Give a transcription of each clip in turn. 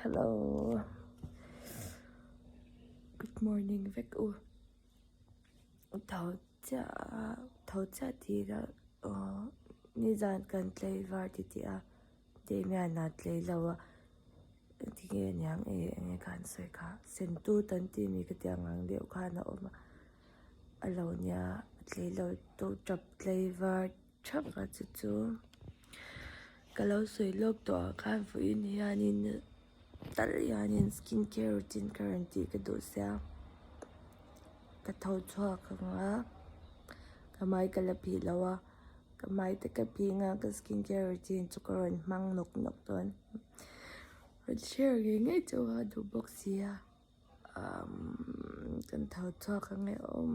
Hello Good morning vek u tho chiah a tho chiah tira uh nizan kan tlei var ti tih a Damian a tlei lo a ti nge niang e eng e kan sawi kha sentu tan ti mi ka ti ang ang deuh khan a awm a a lo nia tlei lo tawh tap tlei var-- Chap a chu chu ka lo sawi lawk tawh ah khan fuiin hianin tal hianin skin care routine kha rawn tih ka duh sia ka tho chhuak ang a ka mai ka la phih lo a ka mai te ka phing a ka skin care routine chu ka rawn hmang nawk nawk dawn rawn share ngei ngei chauh a duh bawk sia umm kan tho chhuak ang e awm.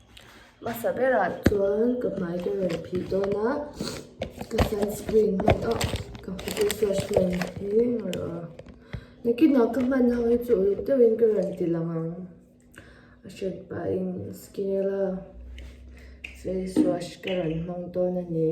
Hmasa berah chuan ka hmai ka rawn phih dawn a, ka sunscreen hman a, ka face wash hman hi a rawh a, nakinah ka hman ho hi chu uluk deuhin ka rawn ti lang ang, a hriat pahin skin a la face wash ka rawn hmang dawn a ni.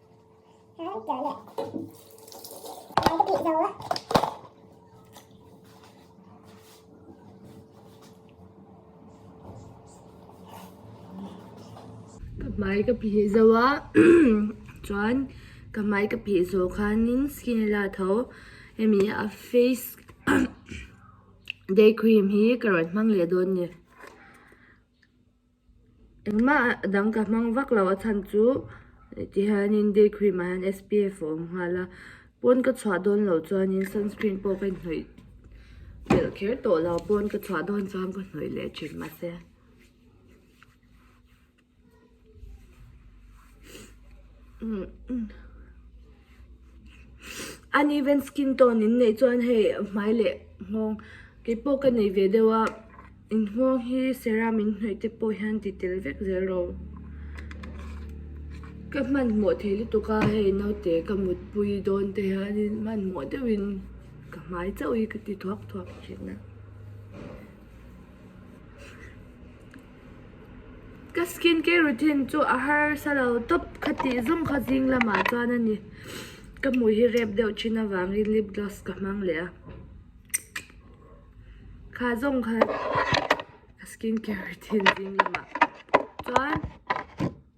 hmai ka phih zo a chuan ka hmai ka phih zawh khanin skin a la tho hemi a face day cream hi ka rawn hmang leh dawn ni. Engmah a dang ka hmang vak lo a chhan chu ti hianin day cream ah hian SPF a awm nghal a, pawn ka chhuah dawn lo chuanin sunscreen pawh ka inhnawih belh kher tawh lo, pawn ka chhuah dawn chuan ka hnawih leh thin mahse. Uneven skin tone in neih chuan hei hmai leh nghawng keipawh ka nei ve deuh a in nghawng hi serum in hnawih te pawh hian ti tel vek zel ro ka hman hmawh theih lutuk a hei naute ka mutpui dawn te hian in hman hmawh deuh in ka hmai chauh hi ka ti thuak thuak thin a. Ka skin care routine chu a harsa lo tawp khatih zawng kha zing lamah chuan a ni ka hmui hi rep deuh thin avangin lip gloss ka hmang leh a kha zawng kha ka skin care routine zing lamah chuan.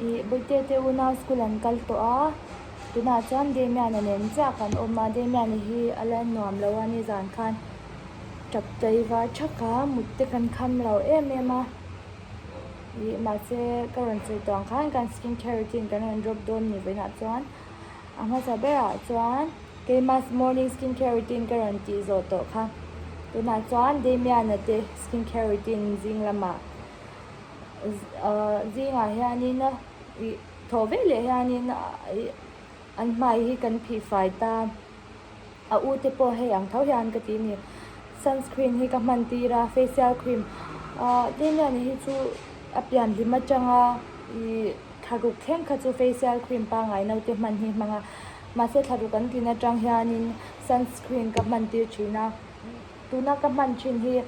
ih bute te una school an kal tawh a tunah chuan damian a nen ziak kan awm a damian hi a la nuam loh a nizan khan tap tlaiva tha a mutte kan kham lo em em a ih mahse ka rawn sawi tawh ang khan kan skin care routine kan rawn drop dawn ni vawiinah chuan-- A hmasa ber ah chuan Keimas morning skincare routine ka rawn tih zawh tawh kha. Tunah chuan Damian-a te skincare routine zing lamah ahh zingah hianin a ih thawh vek leh hianin an hmai hi kan phihfai ta. A u te pawh hei ang tho hian ka ti a ni. Sunscreen hi ka hman tir a, facial cream ahh Damian-a hi chu a pianhlim atanga ih. Thlahruk thleng kha chu facial cream pangai note hman hi hmang a. Mahse thlahruk kan tin atang hianin sunscreen ka hman tir thin a. Tuna ka hman thin hi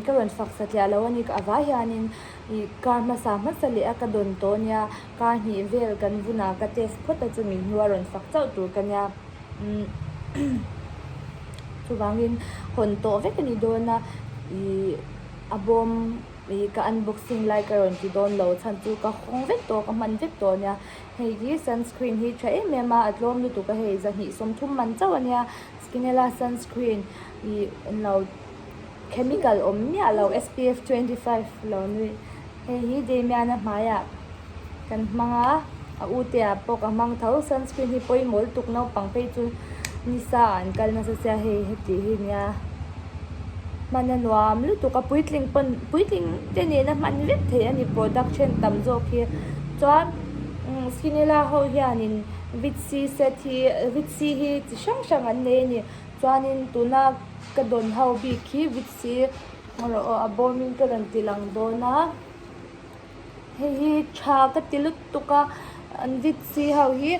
ka rawn faksa tliah lo a ni. A vai hianin ih kar hmasa hmasa leh a ka dawn tawh a nia. Kar hnih vel kan vun a ka test phawt a chumi hnu a rawn fak chauh tur ka nia. Chuvangin hawn tawh vek a ni dawn a. Ih a bawm. Ih ka unboxing lai ka rawn ti dawn lo chhan chu ka hawng vek tawh ka hman vek tawh ania hei hi sunscreen hi tha em em a a tlawm lutuk a hei zahnih sawm thum man chauh ania skinella sunscreen ih englo chemical awm miah lo SPF twenty five lo hei hi damian a hmai ah-- Kan hmang a, a utea pawk a hmang tho. Sunscreen hi pawimawlh tuk naupang phei chu nisa an kal nasa sia hei hetih hi nia, hmana nuam lutuk a puitling pawn puitling te nena hman vek thei a ni product then tam zawk hi. Chuan sinela ho hianin vit c set hi vit c hi chi hrang hrang an nei a ni. Chuanin tuna ka dawn ho bik hi vit c rawh a bawmin ka rawn ti lang dawn a. Hei hi tha ka ti lut tuk a, an vitsi ho hi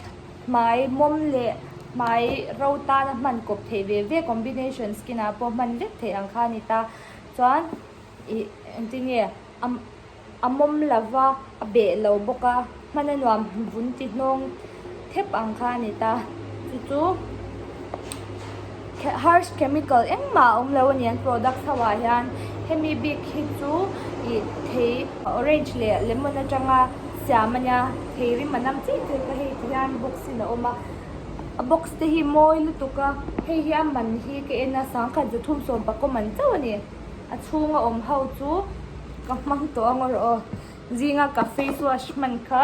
hmai mawm leh hmai ro tan a hman kawp theih ve ve combination skin ah pawh hman vek theih ang kha a ni ta. Chuan ih engti nge a mawm lova a beh lo bawk a hman a nuam vun ti hnawng. thep ang kha a ni ta. Chu chu harsh chemical engmah a awm lo a ni an product ho ah hian hemi bik hi chu ih thei orange leh lemon atanga siam a nia thei rim a nam chiah chiah ka hei ti hian box in a awm a a box te hi mawi lutuk a hei hi a man hi ka en a sang khat za thum sawmpakawm ang chauh a ni a chhung a awm ho chu ka hmang tawh ang erawh aw. Zinga ka face wash hman kha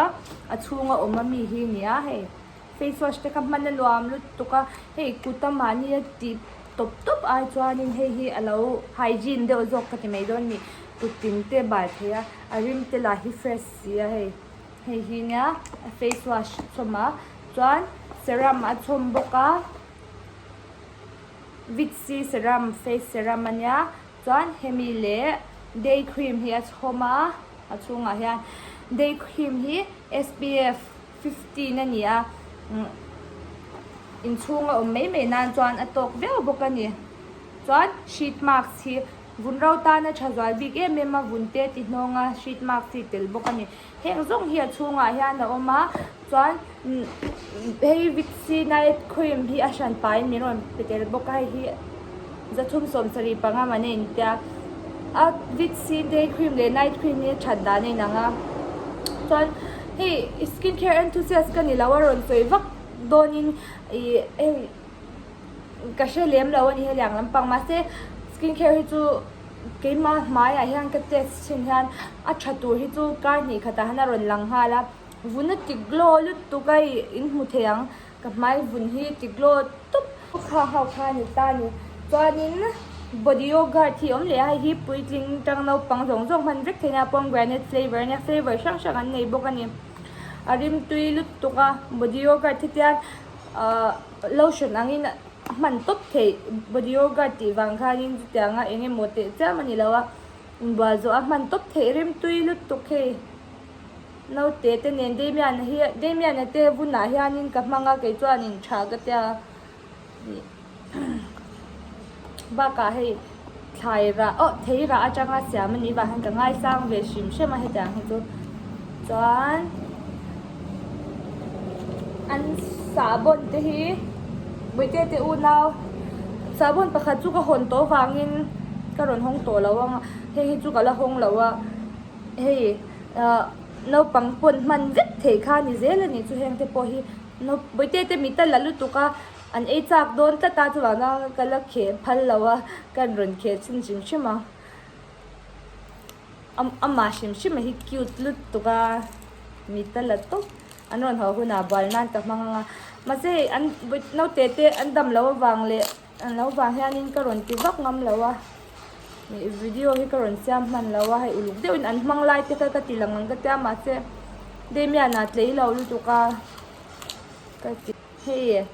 a chhunga awm a mi hi nia hei face wash te kha hman a nuam lutuk a hei kuta mahni a tih tawp tawp ai chuanin hei hi a lo hygiene deuh zawk ka ti mai dawn ni kut tin te bai phei a a rim te lah hi fresh si a hei hei hi nia a face wash chhawm a chuan serum a chhawm bawk a vitsy serum face serum a nia Chuan hemi leh day cream hi a chhawm a, a chhungah hian day cream hi SPF fifteen a ni a, inchhung a awm mai mai nan chuan a tawk viau bawk a ni. Chuan sheet marks hi vun ro tana tha zual bik em em a vun te ti hnawnga sheet marks hi tel bawk a ni. Heng zawng hi a chhungah hian a awm a, chuan hei Victory night cream hi a hran pain min rawn pe tel bawk a, hei hi za thum sawm sarih panga man a intia a, a Victory day cream leh night cream hi a that dan a inang a, chuan hei skin care enthusiast ka nilo a rawn sawi vak dawnin ih hei. ka hre lem lo a nih heliang ang lampang mahse skin care hi chu keima hmaiah hian ka test chhin hian a tha tur hi chu kar hnih khat ah hian a rawn lang nghal a vun a tik glow lutuk a in hmu thei ang ka hmai vun hi a ti glow tup kha ho kha a ni ta a ni chuanin body yogurt hi a awm leh a hei hi puitling tang naupang zawng zawng hman vek theihna pomegranate flavour a nia flavour hrang hrang an nei bawk a ni a rimtui lutuk a body yogurt hi tiang-- Lotion angin a hman tawp theih, body yogurt tih vang khanin chutianga eng emaw teh chiam a ni lo a, inbual zawh a hman tawp theih remtui lutuk hei. Naute te nen Damian-a hi, Damian-a te vunah hianin ka hmang a, kei chuan a inṭha ka tia a nih. Bakah hei thlairah oh theirah atanga siam a nih vang hian ka ngaisang ve hrim hrim a hetiang hi chu chuan an sahbawn te hi buaite te unau sahbawn pakhat chu ka hawn tawh avangin ka rawn hawng tawh lo ang a hei hi chu ka la hawng lo a hei ah naupang pawn hman vek theih kha ni zel a nih chu hengte pawh hi buaite te mital la lutuk a. An ei chak dawn tlat a, chuvakna ka la kheh phal lo a, kan rawn kheh chhin hrim hrim a, amah hrim hrim a hi cute lut tuk a, mit a la tawp, an rawn haw hunah bual nan ka hmang ang a, mahse an naute te an dam lo avang leh an lo vang hianin ka rawn ti vak ngam lo a, video hi ka rawn siam hman lo a, hei uluk deuhin an hmang lai te kha ka ti lang ang ka tia mahse Damian-a tlei lo lutuk a ka ti. Hei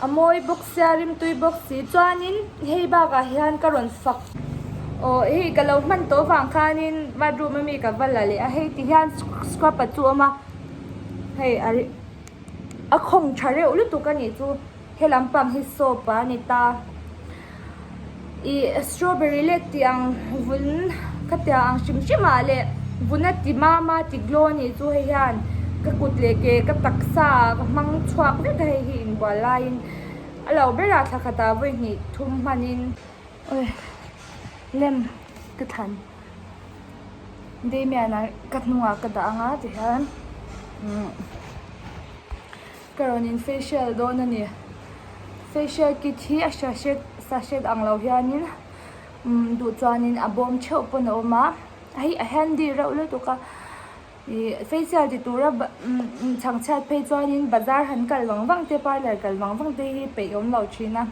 a mawi bawk sia, rimtui bawk si chuanin hei bakah hian ka rawn fak. Aww hei ka lo hman tawh vang khanin bathroom ami ka va la leh a, hei ti hian scrub-a chu a awm a, hei a a khawng tha reuh lutuk a nih chu, helam pang hi soap-a a ni ta. i strawberry lek tih ang vun khatia ang hrim hrim ah leh vun a ti mam a ti glow a nih chu hei hian ka kut leh ke ka taksa ah ka hmang chhuak vek a hei hi in buai lai in a lo ber a thla khat ah vawi hnih thum hman in awii lem ka thlan damian an ka hnung ah ka dah ang a ti hian umm. Ka rawn in facial dawn a ni. Facial kit hi a sachet sachet ang lo hianin umm duh chuanin a bawm theuh pawn a awm a. Hei a handy reuh lutuk a. Ih facial ti tura ba umm chhang chhiat phei chuanin bazar han kal vang vang te parlour kal vang vang te hi peih awm lo thin a.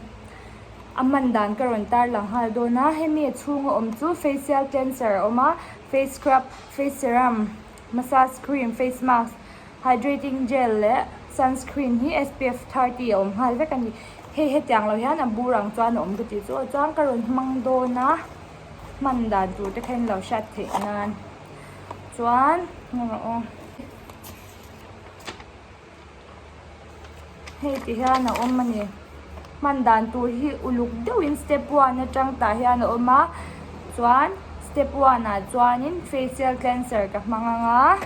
A man dan ka rawn tarlang nghal dawn a. Hemi a chhunga awm chu facial cleanser a awm a, face scrub, face serum, Massage cream, face mask, hydrating gel leh sunscreen hi SPF thirty a awm nghal vek a ni. Hei hetiang lo hian a bur ang chuan a awm ka ti chu a chuang ka rawn hmang dawn a hman dan tur te khen lo hriat theih nan chuan aw. Hei ti hian a awm a ni. Hman dan tur hi uluk deuhin step one atang tah hian a awm a, chuan step one ah chuanin facial cleanser ka hmang ang a.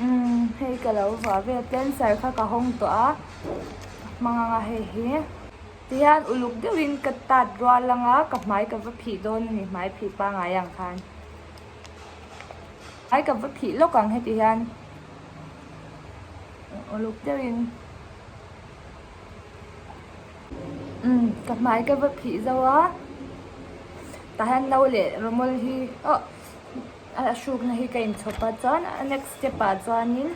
Umm hei ka lo vuah ve a, cleanser kha ka hawng tawh a, ka hmang ang a hei hi. Ti hian uluk deuhin ka tat rual ang a, ka hmai ka va phih dawn a ni, hmai phih pangai ang khan. Hmai ka va phih lawk ang heti hian. uluk deuhin umm ka hmai ka va phih zo a tah hian no leh rawmawl hi ohh a hrukna hi ka inchhawp a chuan next step ah chuanin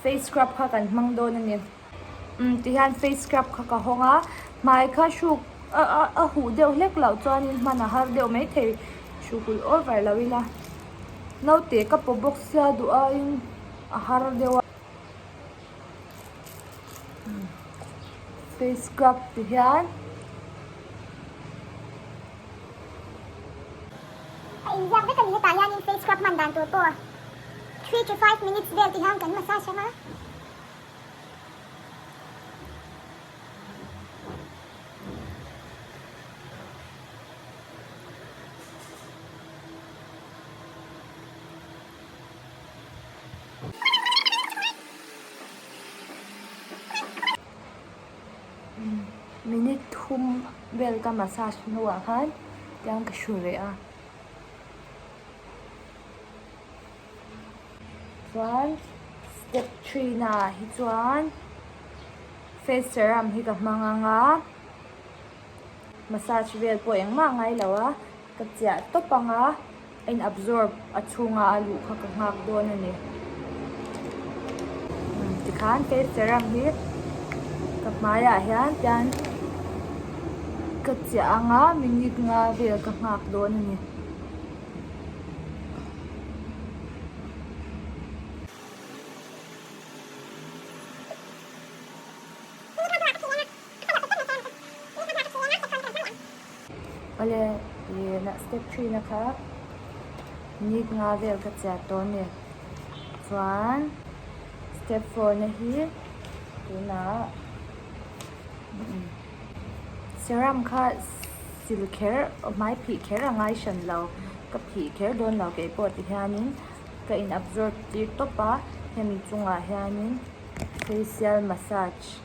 face scrub kha kan hmang dawn a ni umm tihian face scrub kha ka hawng a hmai kha hruk a huh deuh hlek loh chuanin hman a har deuh mai thei hruhhulh over lohin a naute ka paw box sia duh aiin-- A har deuh a. Face scrub ti hian. A inziak vek a ni. Hetah hianin face scrub hman dan tur pawh three to five minutes vel ti hian kan massage ang a. Minute thum vel ka massage hnuah khan tiang ka hru reh a, chuan step three naah hi chuan face serum hi ka hmang anga massage vel pawh engmah a ngailo a. Ka chiah tawp anga in absorb a chhunga a luh kha ka nghak dawn a ni. Umm tikhan kei serum hi ka hmaiah hian pian ka chiah anga minute nga vel ka nghak dawn a ni. Awle nihna step three na kha nit nga vel ka chhiat dawn ni chuan step four na hi tunah serum kha sil kher hmai phih kher a ngai hran lo ka phih kher dawn lo kei pawh ti hianin ka in absorb tir tawp a hemi chungah hianin facial massage --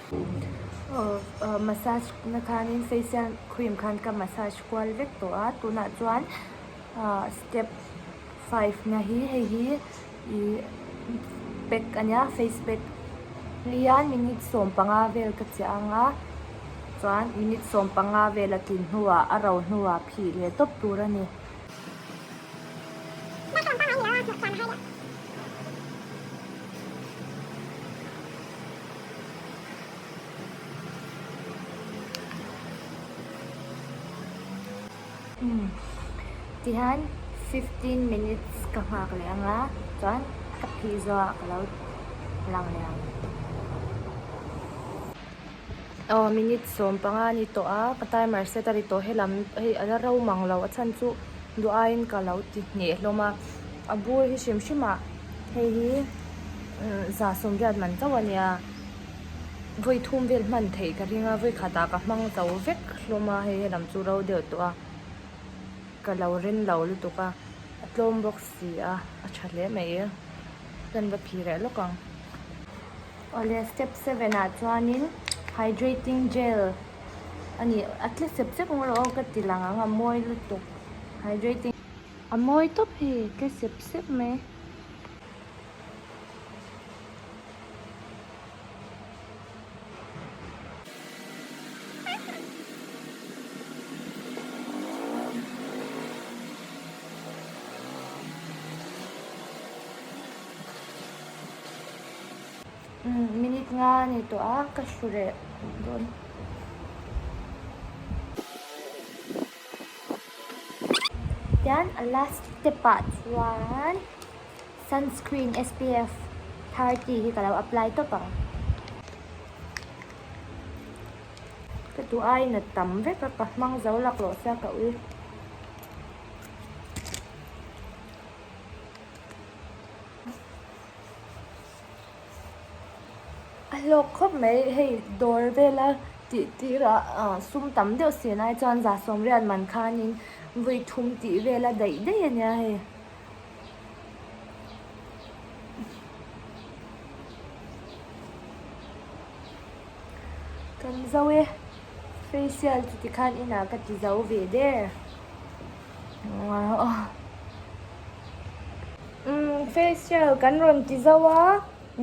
Massage na khanin facial cream khan ka massage kual vek tawh a tunah chuan step five na hi hei hi ihh pack a nia face pack lian minute sawm panga vel ka cheh ang a chuan minute sawm panga vela tlin hnuah a ro hnuah phih leh tawp tur a ni. Tihian fifteen minutes ka nghak leh ang a chuan ka phih zawh a ka lo lang leh ang aw minute sawm panga a ni tawh a ka timer set a ri tawh helam hei a la ro mang lo a chhan chu duh aiin ka lo ti hneh hlawm a. A bur hi hrim hrimah hei hi za sawmriat man chauh a nia. Vawi thum vel hman theih ka ring a, vawi khata ka hmang chauh vek hlawm a, hei hi lam chu ro deuh tawh a, ka lo rin lo lutuk a, a tlawm bawk si a, a tha hle mai e, chuan va phih reh lawk ang. Awle step seven ah chuanin hydrating gel a nih a tle sep sep ang rawh ka ti lang ang a mawi lutuk hydrating. A mawi tawp hi tle sep sep mai. Minute nga a ni tawh a, ka hru reh dawn. Chuan a last step ah chuan sunscreen SPF thirty hi ka lo apply tawp ang. Ka duh a, a inut tam vek a, ka hmang zo lak loh se a ka ui. A hlawk khawp mai hei dawr vela tih tirah ah sum tam deuh si anai chuan za sawmriat man khanin vui thum tih vela daih daih a nia hei. Kan zo e facial chu tikhan inah ka ti zo ve de. Facial kan rawn ti zauh a,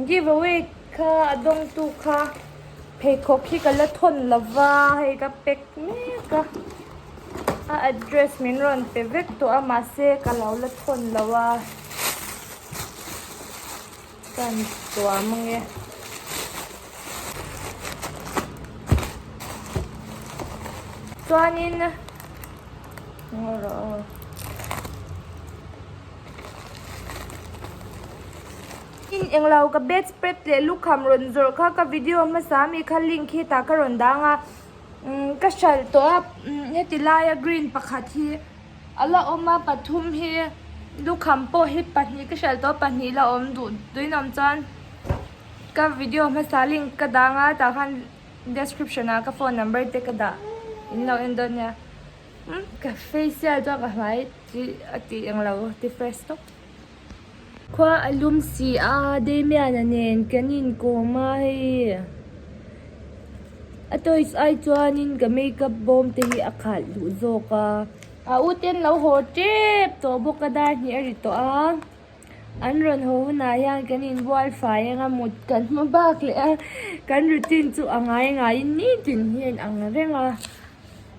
giveaway kha a dawngtu kha pheikhawk hi ka la thawn lova hei ka pack mek a, a address min rawn pe vek tawh a mahse ka lo la thawn lo a. Chuan tua mang e. Chuanin ngaw rawh. In englo ka bedspread leh lukham rawn zawrh kha ka video hmasa mi kha link hi tah ka rawn dang a ka hralh tawh a heti laia green pakhat hi. A la awm a, pathum hi lukham pawh hi pahnih ka hralh tawh a, pahnih la awm duh dawihnawm chuan ka video hmasa link ka dang a, tah khan description ah ka phone number te ka dah in lo en dawn nia. Ka facial chuan ka hmai chi a tih ang lo, ti fresh tawp. Khua a lum si a, Damian-a nen kan inkawm a hei. A toys ai chuanin ka makeup bawm te hi a khalh duh zawk a. A u ten lo haw tep tawh bawk a, Darhnih a ri tawh a. An rawn haw hunah hian kan inbual fai anga mut kan hmu bak leh a, kan routine chu a ngai ngaiin ni tin hian ang reng a.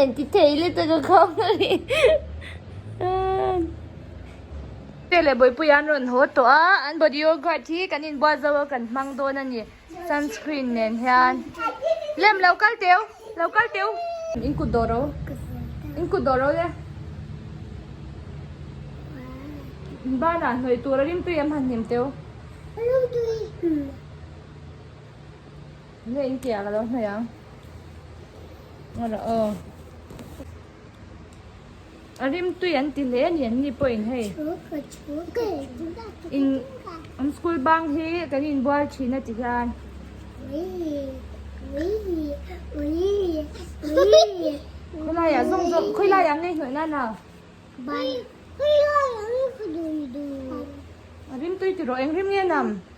Anti thei le taka khau ni. Tele boy pu yan ron ho to a an body yogurt hi kan in bua zo kan mang don ani sunscreen nen hian lem lo kal teu lo kal teu in kut do ro in kut do ro le bana hnoi tur rim tui em han hnem teu Nge in tia ka lo hnaih ang. Nga la aw. Arim tui an ti hle ni an ni pawh in hei. In an school bang hi kan in bual thin a ti hian. Khawlai ah zong zong khawlai ah ngei hnawih nana. Khawlai ah ngei hnawih nana. Arim tui ti rawh eng rim nge nam.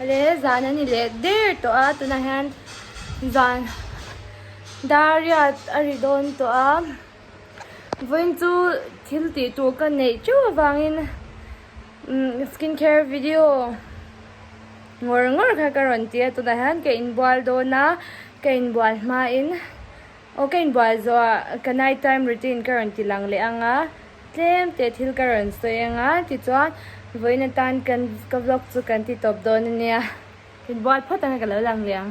Leh leh zan a ni leh der tawh a, tunah hian zan dariat a ri dawn tawh a, vawiin chu thil tih tur ka neih teuh avangin skin care video ngawr ngawr kha ka rawn ti a, tunah hian ka inbual dawn a, ka inbual hmain Aw ka inbual zawh a, ka night time routine ka rawn ti lang leh ang a, tlem teh thil ka rawn sawi ang a, tichuan vawiin atan kan ka vlog chu kan ti tawp dawn a nia. Inbual phawt anga ka lo lang leh ang.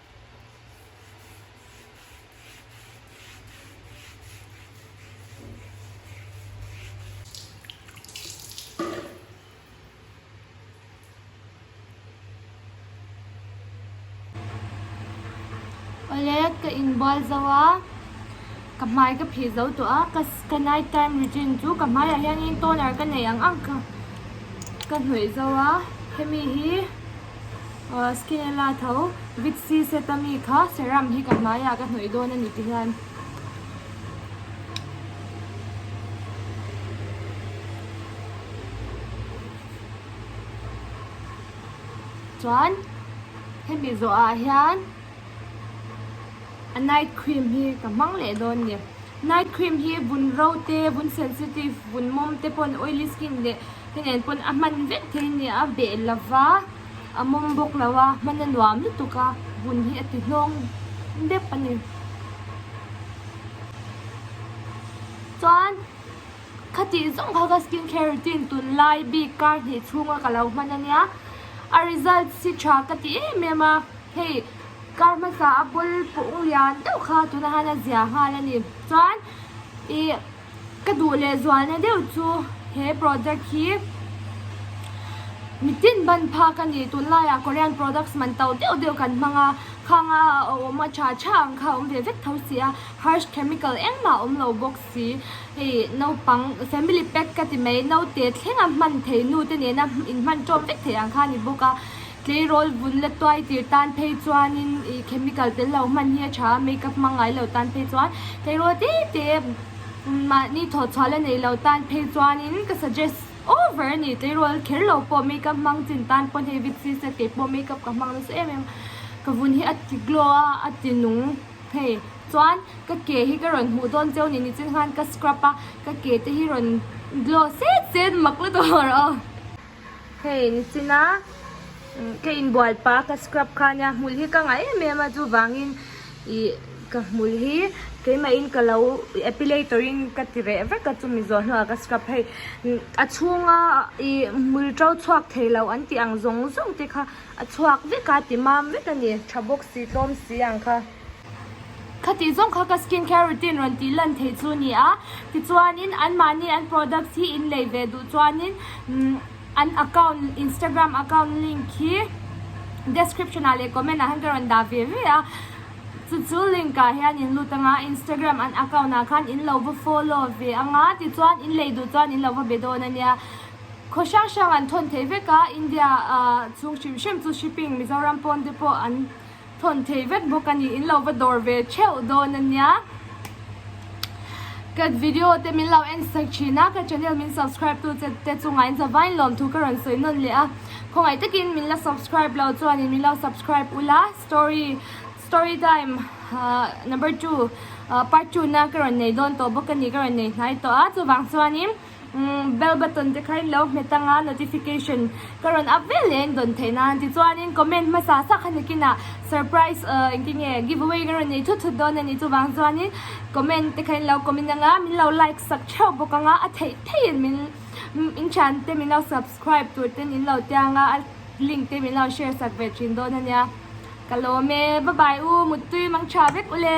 Olet ka in bual zo a ka hmai ka phih zo tawh a ka ka night time routine chu ka hmai ah hian in toner ka nei ang ang kha ka hnawih zo a hemi hi-- Skin a la tho. Vit C Setami kha serum hi ka hmaiah ka hnawih dawn a ni ti hian. Chuan hemi zawh ah hian a night cream hi ka hmang leh dawn ni. Night cream hi vun ro te, vun sensitive, vun mawm te pawn oily skin leh Ka nen pawn a hman vek thei a nia, a beh lova, a mawm bawk lo a, hman a nuam lutuk a, hun hi a ti hlawng dep a ni. Chuan khatih zawng kha ka skin care routine tun lai bik kar hnih chhunga ka lo hman a nia, a results hi tha ka ti em em a, hei kar hmasa a bawlpawng lian deuh kha tuna han a zia nghal a ni. Chuan i. Ka duh leh zual na deuh chu he product hi mitin ban phak a ni. Tunlaiah Korean products man tau deuh deuh kan hmang a, khang a awm a tha tha ang kha a awm ve vek tho si a, harsh chemical engmah a awm lo bawk si. Hei naupang family pack ka ti mai, naute thleng a hman thei nu te nena inhman tawm vek thei ang kha a ni bawk a. Tleirawl vun la tuai tir tan phei chuanin ih chemical tel lo hman hi a tha a, makeup hmangaih lo tan phei chuan tleirawl te te mahni thawh chhuah la nei lo tan phei chuanin ka suggest over a ni. Tleirawl kher lo pawh makeup hmang chin tan pawn hei Vitsy se kei pawh makeup ka hmang nasa em em a, ka vun hi a ti glow a, a ti nung phei chuan ka ke hi ka rawn hmuh dawn cheu ni ni chin khan ka scrub a, ka ke te hi rawn glow set set mak la tur aw. Hei nichina ka inbual pa ka scrub kha nia hmul hi ka ngai em em a chuvangin ih ka hmul hi keimah in ka lo epilator in ka ti reh vek a chumi zawh hnuah ka scrub hei a chhunga ih hmul to chhuak thei lo an tih ang zawng zawng te kha a chhuak vek a ti mam vek a ni tha bawk si tlawm si ang kha. Khatih zawng kha ka skin care routine rawn tih lan thei chu ni a, tichuanin anmahni an products hi in lei ve duh chuanin an account Instagram account link hi description ah leh comment ah hian ka rawn dah ve ve a, chu chu link ah hian in lut anga Instagram an account ah khan in lo va follow ve anga tichuan in lei duh chuan in lo va be dawn a nia. Khaw hrang hrang an thawn thei vek a, India ah chhung hrim hrim chu shipping Mizoram pawn te pawh an. Thawn thei vet bawk a ni, in lo va dawr ve theuh dawn a nia. Ka video te min lo en sak thin a, ka channel min subscribe tu te chungah in zavain lawm thu ka rawn sawi nawn leh a. Khawngaih takin min la subscribe lo chuanin min lo subscribe ula, story story time number two part two na ka rawn nei dawn tawh bawk a ni, ka rawn nei hnai tawh a, chuvang chuanin. Bell button te kha in lo hmet ang a, notification ka rawn ak ve leh in dawn theih nan. Tichuanin comment hmasa sak kha nikin ah surprise ahh engti nge give away ka rawn nei thut thut dawn a ni. Chuvang chuanin comment te kha in lo kawmin ang a, min lo like sak theuh bawk ang a, a theih theih in min in thian te min lo subscribe tur ten in lo tia ang a, a link te min lo share sak ve thin dawn a nia. Ka lawm e, bye bye u, muttui mangtha vek u le.